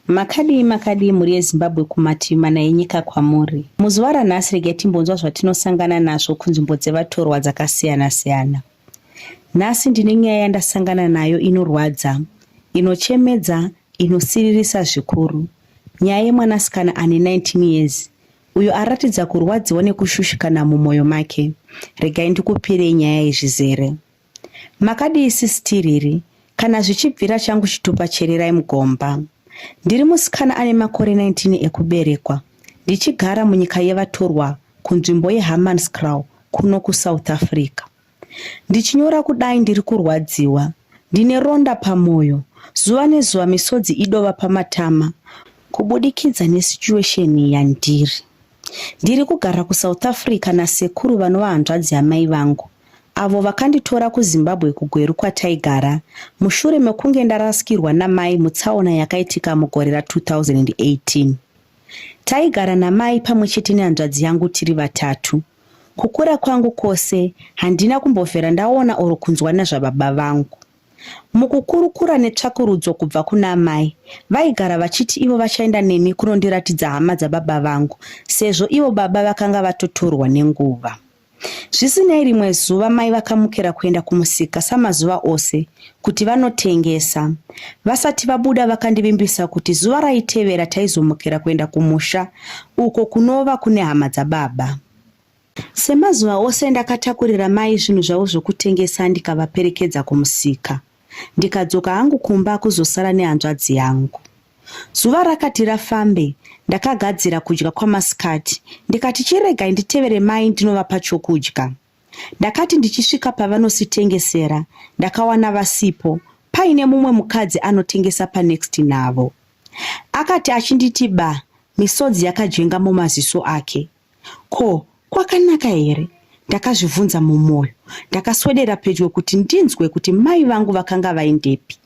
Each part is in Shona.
Makadii makadii mhuri yeZimbabwe kumativi mana enyika kwamuri. Muzuva ranhasi regai timbonzwa zvatinosangana nazvo kunzvimbo dzevatorwa dzakasiyana-siyana. Nhasi ndine nyaya yandasangana nayo inorwadza, inochemedza, inosiririsa zvikuru. Nyaya yemwanasikana ane 19 years uyo aratidza kurwadziwa nekushushikana mumwoyo make. Regai ndikupirei nyaya yezvizere. Makadii sis Tiriri? Kana zvichibvira changu chitupa chererai mugomba. Ndiri musikana ane makore 19 ekuberekwa ndichigara munyika yevatorwa kunzvimbo yeHammanskraal kuno kuSouth Africa. Ndichinyora kudai ndiri kurwadziwa, ndine ronda pamwoyo, zuva nezuva misodzi idova pamatama kubudikidza nesituation yandiri. Ndiri kugara kuSouth Africa nasekuru vanova hanzvadzi yamai vangu avo vakanditora kuzimbabwe kugweru kwataigara mushure mekunge ndarasikirwa namai mutsaona yakaitika mugore ra2018 taigara namai pamwe chete nehanzvadzi yangu tiri vatatu kukura kwangu kwose handina kumbovhera ndaona or kunzwa nezvababa vangu Mukukurukura netsvakurudzo kubva kuna amai, vaigara vachiti ivo vachaenda neni kunondiratidza hama dzababa vangu sezvo ivo baba vakanga vatotorwa nenguva. Zvisinei, rimwe zuva mai vakamukira kuenda kumusika samazuva ose kuti vanotengesa. Vasati vabuda vakandivimbisa kuti zuva raitevera taizomukira kuenda kumusha uko kunova kune hama dzababa. Semazuva ose ndakatakurira mai zvinhu zvavo zvokutengesa ndikavaperekedza kumusika ndikadzoka hangu kumba kuzosara nehanzvadzi yangu. Zuva rakati rafambe ndakagadzira kudya kwamasikati ndikati chiregai nditevere mai ndinovapa chokudya. Ndakati ndichisvika pavanositengesera ndakawana vasipo paine mumwe mukadzi anotengesa panext navo. Akati achinditi ba misodzi yakajenga mumaziso ake. Ko kwakanaka here? Ndakazvibvunza mumwoyo. Ndakaswedera pedyo kuti ndinzwe kuti mai vangu vakanga vaindepi.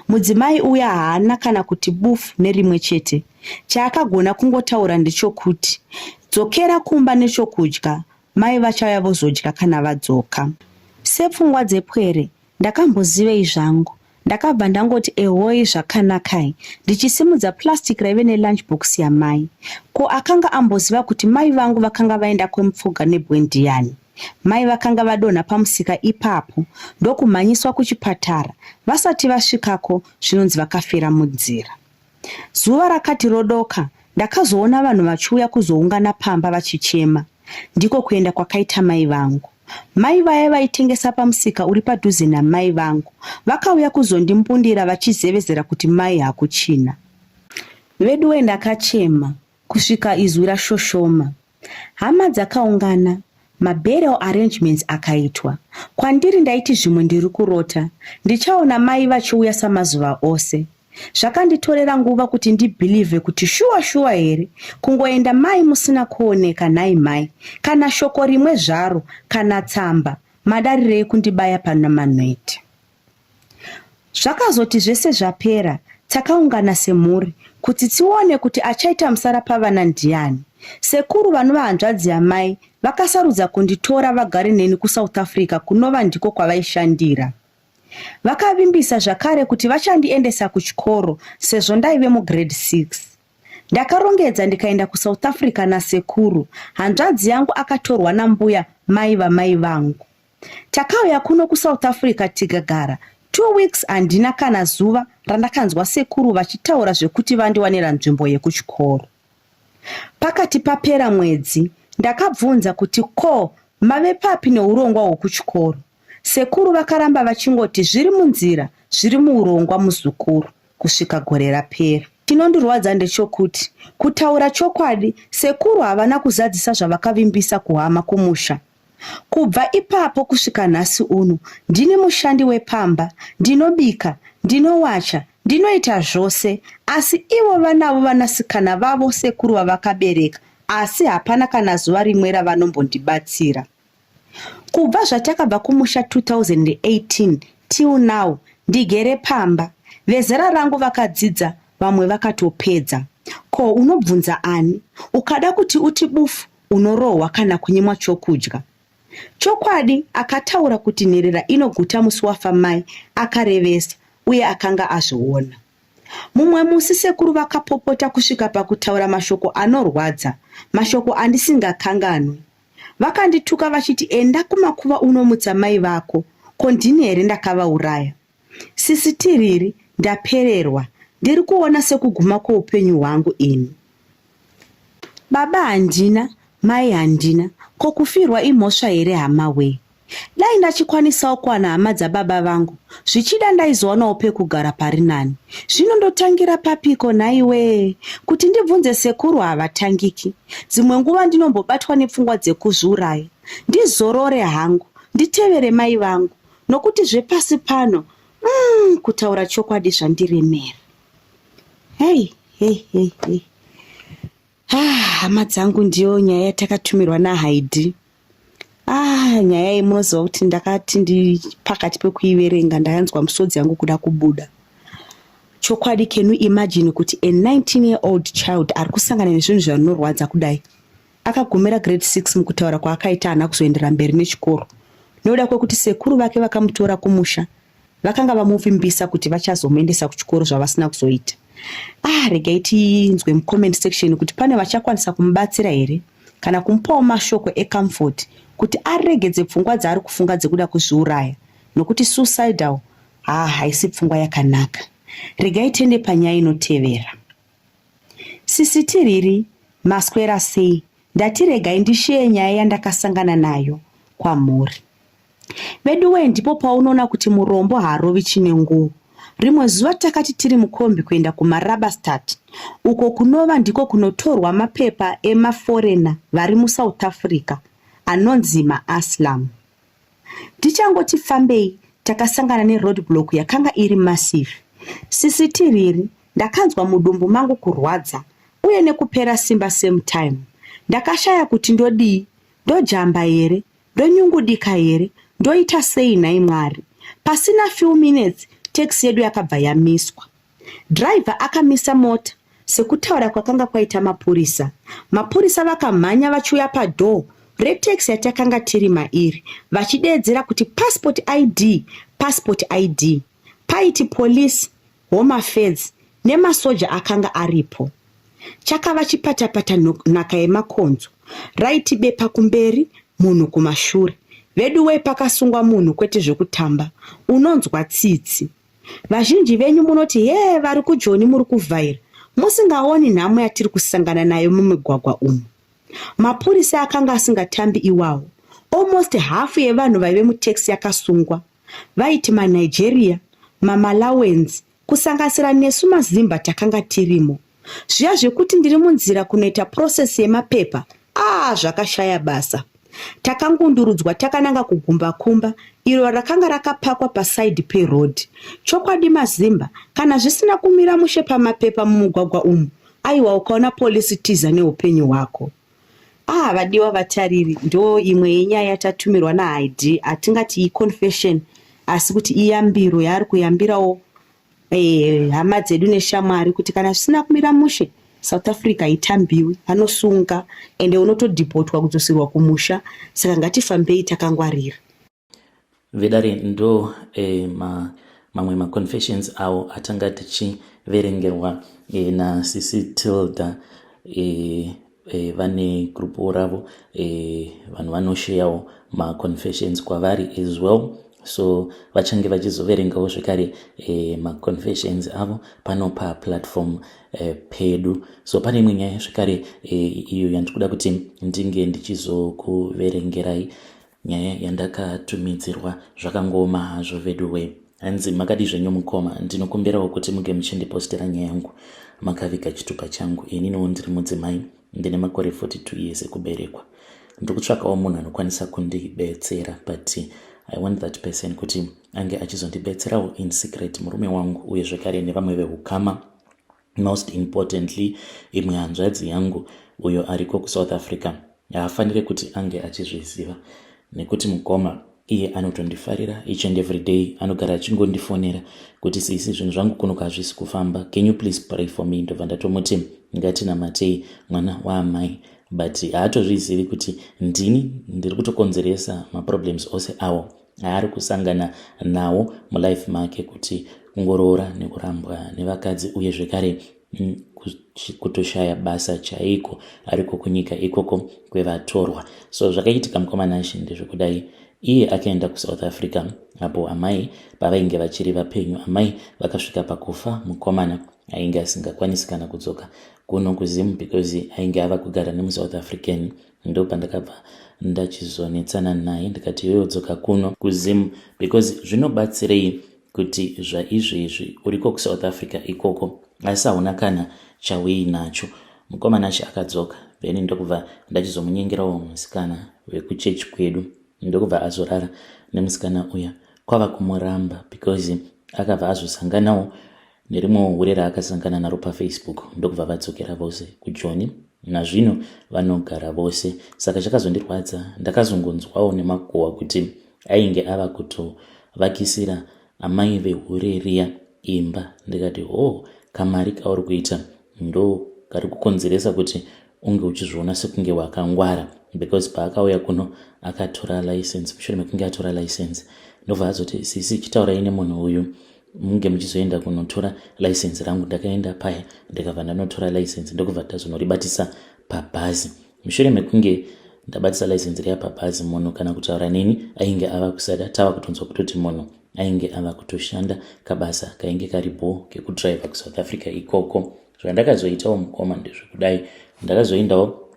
Mudzimai uya haana kana kuti bufu nerimwe chete. Chaakagona kungotaura ndechokuti dzokera kumba nechokudya, mai vachauya vozodya kana vadzoka. Sepfungwa dzepwere, ndakambozivei zvangu ndakabva ndangoti ehoi zvakanakai ndichisimudza plastic raive nelunch box yamai ko akanga amboziva kuti mai vangu vakanga vaenda kwemupfuga nebwe ndiyani mai vakanga vadonha pamusika ipapo ndokumhanyiswa kuchipatara vasati vasvikako zvinonzi vakafira munzira Zuva rakati rodoka ndakazoona vanhu vachiuya kuzoungana pamba vachichema. Ndiko kuenda kwakaita mai vangu. Mai vaya vaitengesa pamusika uri padhuze namai vangu vakauya kuzondimbundira vachizevezera kuti mai hakuchina. Veduwe ndakachema. kusvika izwi rashoshoma. Hama dzakaungana, maburial arrangements akaitwa. Kwandiri ndaiti zvimwe ndiri kurota, ndichaona mai vachiuya samazuva ose. Zvakanditorera nguva kuti ndibhilivhe kuti shuwa shuwa here kungoenda mai musina kuoneka nhai mhai, kana shoko rimwe zvaro, kana tsamba, madarirei kundibaya pano manhweti. Zvakazoti zvese zvapera takaungana semhuri kuti tione kuti achaita musara pavana ndiani. Sekuru vanova hanzvadzi yamai vakasarudza kunditora vagare neni kuSouth Africa kunova ndiko kwavaishandira. Vakavimbisa zvakare kuti vachandiendesa kuchikoro sezvo ndaive mugrade 6. Ndakarongedza ndikaenda kuSouth Africa nasekuru, hanzvadzi yangu akatorwa nambuya mai vamai vangu. Takauya kuno kuSouth Africa tikagara two weeks handina kana zuva randakanzwa sekuru vachitaura zvekuti vandiwanira nzvimbo yekuchikoro. Pakati papera mwedzi ndakabvunza kuti ko mave papi neurongwa hwekuchikoro. Sekuru vakaramba vachingoti zviri munzira zviri muurongwa muzukuru kusvika gore rapera. Chinondirwadza ndechokuti kutaura chokwadi sekuru havana kuzadzisa zvavakavimbisa kuhama kumusha. Kubva ipapo kusvika nhasi uno ndini mushandi wepamba, ndinobika, ndinowacha, ndinoita zvose asi ivo vanavo vanasikana vavo sekuru vavakabereka asi hapana kana zuva rimwe ravanombondibatsira. Kubva zvatakabva kumusha 2018 till now ndigere pamba. Vezera rangu vakadzidza vamwe vakatopedza. Ko unobvunza ani? Ukada kuti uti bufu Unorohwa kana kunyimwa chokudya. Chokwadi, akataura kuti nherera inoguta musi wafa mai akarevesa uye akanga azviona. Mumwe musi sekuru vakapopota kusvika pakutaura mashoko anorwadza, mashoko andisingakanganwi. Vakandituka vachiti enda kumakuva unomutsa mai vako, ko ndini here ndakavauraya? Sisi Tiriri, ndapererwa. Ndiri kuona sekuguma kweupenyu hwangu ini. Baba handina, mai handina. Ko kufirwa imhosva here hama wee? Dai ndachikwanisawo kuwana hama dzababa vangu, zvichida ndaizowanawo pekugara pari nani. Zvino ndotangira papiko nhaiwee? Kuti ndibvunze sekuru havatangiki. Dzimwe nguva ndinombobatwa nepfungwa dzekuzviuraya. Ndizorore hangu, nditevere mai vangu. nokuti zvepasi pano mm, kutaura chokwadi zvandiremera hei hei hei hei ah, hama dzangu ndiyo nyaya yatakatummirwa nahaidi ah, nyaya iyi munoziva kuti ndakati ndi pakati pekuiverenga ndakanzwa musodzi yangu kuda kubuda chokwadi can you imagine kuti a 19 year old child ari kusangana nezvinhu zvarinorwadza kudai Akagumira grade 6 mukutaura kwaakaita haana kuzoendera mberi nechikoro nokuda kwekuti sekuru vake vakamutora kumusha vakanga vamuvimbisa kuti vachazomuendesa kuchikoro zvavasina kuzoita. Ah, regai tinzwe mucomment section kuti pane vachakwanisa kumubatsira here kana kumupawo mashoko ecomfort kuti aregedze pfungwa dzaari kufunga dzekuda kuzviuraya nokuti suicidal haa haisi pfungwa yakanaka. Regai tende panyaya inotevera. Sisi Tiriri maswera sei ndati regai ndisheye nyaya yandakasangana nayo kwamhuri veduwee ndipo paunoona kuti murombo haarovi chine nguo rimwe zuva takati tiri mukombi kuenda kumarabastat uko kunova ndiko kunotorwa mapepa emaforena vari musouth africa anonzi maaslam Tichangoti fambei takasangana neroad block yakanga iri massive. Sisi Tiriri ndakanzwa mudumbu mangu kurwadza uye nekupera simba same time. Ndakashaya kuti ndodii, ndojamba here, ndonyungudika here, ndoita sei nhai Mwari. Pasina few minutes taxi yedu yakabva yamiswa. Driver akamisa mota sekutaura kwakanga kwaita mapurisa. Mapurisa vakamhanya vachiuya padoor retaxi yatakanga tiri mairi vachideedzera kuti passport ID, passport ID. Paiti police, home affairs nemasoja akanga aripo. Chakava chipatapata nhaka yemakonzo. Raiti bepa kumberi, munhu kumashure. Veduwei pakasungwa munhu kwete zvekutamba. Unonzwa tsitsi. Vazhinji venyu munoti hee vari kujoni muri kuvhaira musingaoni nhamo yatiri kusangana nayo mumigwagwa umu. Mapurisa akanga asingatambi iwawo. Almost hafu yevanhu vaive mutaxi yakasungwa. Vaiti maNigeria, maMalawians, kusanganisira nesu maZimba takanga tirimo. zviya zvekuti ndiri munzira kunoita process yemapepa aa zvakashaya basa takangundurudzwa takananga kugumba kumba iro rakanga rakapakwa paside peroad chokwadi mazimba kana zvisina kumira mushe pamapepa mumugwagwa umu aiwa ukaona polisi tiza neupenyu hwako ah vadiwa vatariri ndo imwe yenyaya yatatumirwa naid hatingati iconfession asi kuti iyambiro yaari kuyambirawo Eh, hama dzedu neshamwari kuti kana zvisina kumira mushe south africa haitambiwi vanosunga ende unotodhipotwa kudzosirwa kumusha saka ngatifambei takangwarira vedare ndo eh, ma, mamwe maconfessions awo atanga tichiverengerwa eh, nasisi tilda eh, e, vane grupuwo ravo e, vanhu vanosheyawo maconfessions kwavari as well so vachange vachizoverengawo zvekare e, maconfessions avo pano paplatform e, pedu so pane imwe nyaya zvekare e, iyo yandikuda kuti ndinge ndichizokuverengerai Nyaya yandakatumidzirwa zvakangooma hazvo veduwe. Hanzi makadi zvenyu mukoma, ndinokumbirawo kuti muge muchindipostera nyaya yangu. Makaviga chitupa changu, ininiwo ndiri mudzimai, ndine makore 42 years ekuberekwa. Ndiri kutsvakawo munhu anokwanisa kundibetsera but I want that person kuti ange achizondibetserawo in secret murume wangu uye zvekare nevamwe vehukama Most importantly, imwe hanzvadzi yangu uyo ariko kuSouth Africa haafanire kuti ange achizviziva nekuti mukoma iye anotondifarira each and every day anogara achingondifonera kuti sisi zvinhu zvangu kunoka hazvisi kufamba can you please pray for me ndobva ndatomuti ngatinamatei mwana waamai but haatozvizivi kuti ndini ndiri kutokonzeresa maproblems ose awo aari kusangana nawo mulife make kuti kungoroora nekurambwa nevakadzi uye zvekare mm, kutoshaya basa chaiko ariko kunyika ikoko kwevatorwa so zvakaitika mukomanashe ndezvekudai iye akaenda kusouth africa apo amai pavainge vachiri vapenyu amai vakasvika pakufa mukomana ainge asingakwanisi kana kudzoka kuno kuzimu because ainge ava kugara nemusouth african ndopandakabva ndachizonetsana naye ndikati iwewe dzoka kuno kuzim because zvinobatsirei kuti zvaizvezvi uriko kusouth africa ikoko asi hauna kana chawei nacho mukomana acho akadzoka then ndokubva ndachizomunyengerawo musikana vekuchechi kwedu ndokubva azorara nemusikana uya kwava kumuramba because akabva azosanganawo Nerimwewo hure raakasangana naro pafacebook ndokubva vadzokera vose kujoni. Nazvino vanogara vose saka chakazondirwadza ndakazongonzwawo nemakuhwa kuti ainge ava kutovakisira amai vehure riya imba ndikati hoo kamari kauri kuita ndo kari kukonzeresa kuti unge uchizviona sekunge wakangwara because paakauya kuno akatora license mushure mekunge atora license ndobva azoti sisi chitaurai nemunhu uyu munge muchizoenda kunotora license rangu ndakaenda paya ndikabva ndanotora license ndokubva ndazonoribatisa pabhazi mushure mekunge ndabatisa license riya pabhazi munhu kana kutaura neni ainge ava kusada tava kutonzwa kutoti munhu ainge ava kutoshanda kabasa kainge kari bho kekudriver kusouth africa ikoko zvandakazoitawo mukoma ndezvekudai ndakazoendawo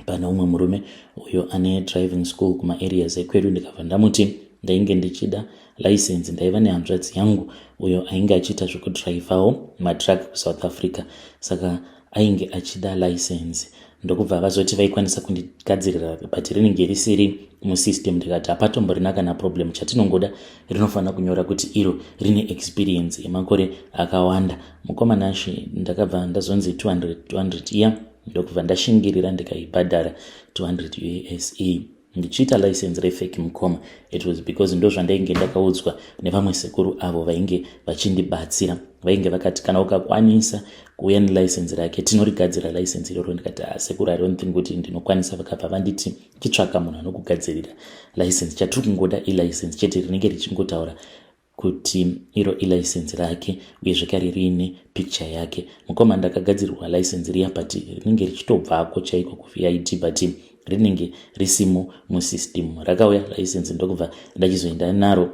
pane umwe murume uyo ane driving school kumaareas ekwedu ndikabva ndamuti ndainge ndichida license ndaiva nehanzvadzi yangu uyo ainge achiita zvekudrivhawo madruck kusouth africa saka ainge achida license ndokubva vazoti vaikwanisa kundigadzirira but rinenge risiri musystem ndikati hapatomborina kana problem chatinongoda rinofanira kunyora kuti iro rine experience yemakore akawanda mukomanashi ndakabva ndazonzi 200 200 iya yeah. ndokubva ndashingirira ndikaibhadhara 200 use ndichiita license refake mukoma it was because ndozvandainge ndakaudzwa nevamwe sekuru avo vainge vachindibatsira vainge vakati kana ukakwanisa kuuya nelicense rake tinorigadzira license iroro ndikati ah, sekuru i don't think kuti ndinokwanisa vakabva vanditi chitsvaka munhu anokugadzirira license chatiri kungoda ilicense chete rinenge richingotaura kuti iro ilicense rake uye zvekare riine picture yake mukoma ndakagadzirwa license riya but rinenge richitobvako chaiko kuvid but rinenge risimo musystem rakauya license ndokubva ndachizoenda naro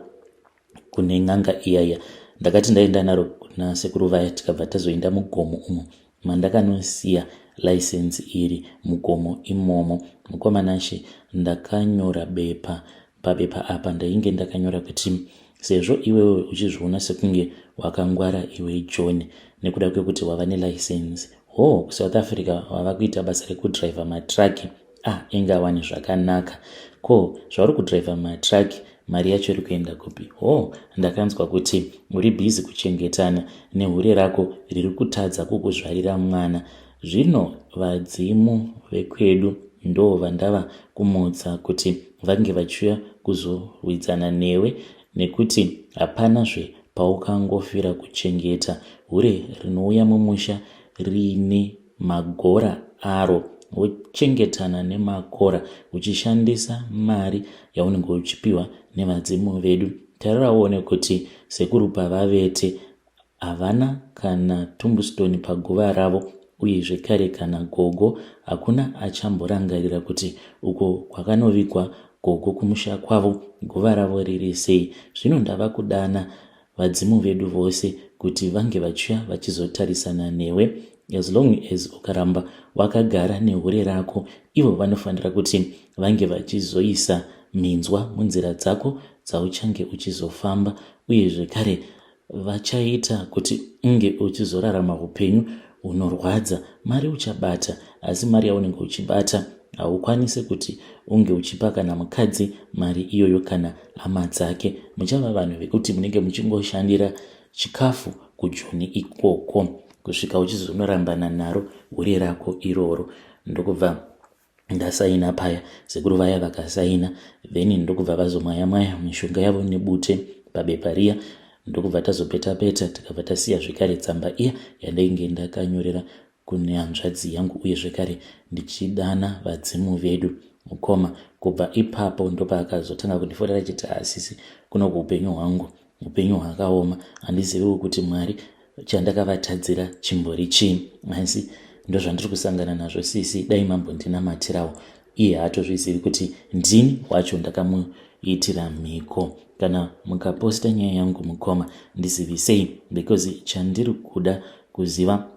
kune n'anga iyaya ndakati ndaenda naro kuna sekuru vaya tikabva tazoenda mugomo umo mandakanosiya license iri mugomo imomo mukoma Nashe ndakanyora bepa pabepa apa ndainge ndakanyora kuti sezvo iwewe uchizviona sekunge wakangwara iwe john nekuda kwekuti wava nelicense hoo kusouth africa wava kuita basa rekudriver matraki Ah, inga wani zvakanaka. Ko, zvauri kudriver matruck, mari yacho iri kuenda kupi? Ho, oh, ndakanzwa kuti uri busy kuchengetana nehure rako riri kutadza kukuzvarira mwana. Zvino vadzimu vekwedu ndo vandava kumutsa kuti vange vachiuya kuzorwidzana newe nekuti hapana zve paukangofira kuchengeta hure rinouya mumusha riine magora aro wochengetana nemakora uchishandisa mari yaunenge uchipiwa nevadzimu vedu tarira uone kuti sekuru pavavete havana kana tumbustoni paguva ravo uye zvekare kana gogo hakuna achamborangarira kuti uko kwakanovigwa gogo kumusha kwavo guva ravo riri sei zvino ndava kudana vadzimu vedu vose kuti vange vachiuya vachizotarisana newe as long as ukaramba wakagara nehure rako ivo vanofanira kuti vange vachizoisa minzwa munzira dzako dzauchange uchizofamba uye zvekare vachaita kuti unge uchizorarama upenyu hunorwadza mari uchabata asi mari yaunenge uchibata haukwanise kuti unge uchipa kana mukadzi mari iyoyo kana hama dzake muchava vanhu vekuti munenge muchingoshandira chikafu kujoni ikoko kusvika uchizonorambana naro hure rako iroro ndokubva ndasaina paya sekuru vaya vakasaina then ndokubva vazomwaya mwaya mishonga yavo nebute pabepa riya ndokubva tazopeta peta tikabva tasiya zvekare tsamba iya yandainge ndakanyorera kune hanzvadzi yangu uye zvekare ndichidana vadzimu vedu mukoma kubva ipapo ndopaakazotanga kundiforera chiti haasisi kuno kuupenyu hwangu upenyu hwakaoma handiziviwo kuti mwari chandakavatadzira chimbori chii asi ndozvandiri kusangana nazvo sisi dai mambondinamatirawo iye haatozvizivi kuti ndini wacho ndakamuitira mhiko kana mukaposta nyaya yangu mukoma ndizivisei because chandiri kuda kuziva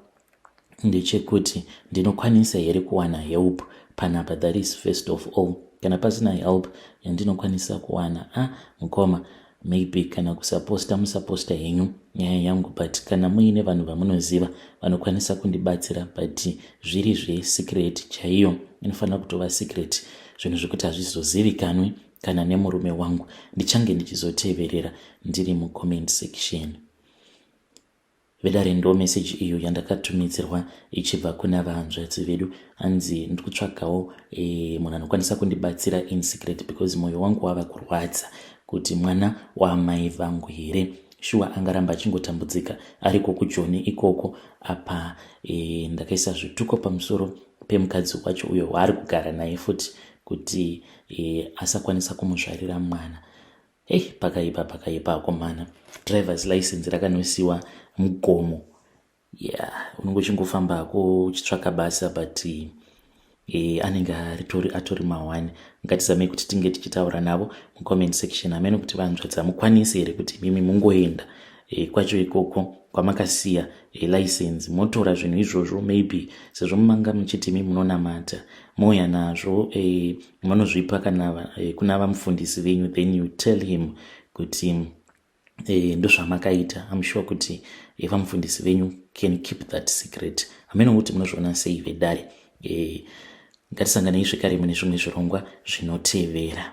ndechekuti ndinokwanisa here kuwana help panapa that is first of all kana pasina help yandinokwanisa kuwana a ah, mukoma Maybe kana kusaposta musaposta henyu nyaya yangu but kana muine vanhu vamunoziva vanokwanisa kundibatsira but zviri zvesecret chaiyo inofanira kutova secret zvinhu zvekuti hazvizozivikanwi kana nemurume wangu ndichange ndichizoteverera ndiri mucomment section Vedare ndo message iyo yandakatumidzirwa ichibva kuna vahanzvadzi vedu hanzi ndikutsvagawo e, eh, munhu anokwanisa kundibatsira in secret because moyo wangu wava kurwadza kuti mwana waamai vangu here shuwa angaramba achingotambudzika ariko kujoni ikoko apa e, ndakaisa zvituko pamusoro pemukadzi wacho uyo waari kugara naye futi kuti e, asakwanisa kumuzvarira mwana Hey, pakaipa pakaipa akomana drivers license rakanosiwa mugomo yeah unenge uchingofamba hako uchitsvaka basa but eh, anenge aritori atori mahwani ngatizamei kuti tinge tichitaura navo mucomment section amene kuti vanzvadza mukwanise here kuti mimi mungoenda eh, kwacho ikoko kwamakasiya eh, license motora zvinhu izvozvo maybe sezvo mumanga muchiti mi munonamata mouya nazvo eh, manozvipa kana eh, kuna vamufundisi venyu then you tell him kuti eh, ndozvamakaita im sure kuti eh, vamufundisi venyu can keep that secret hameno kuti munozviona sei vedare eh, ngatisanganei zvekare mune zvimwe zvirongwa zvinotevera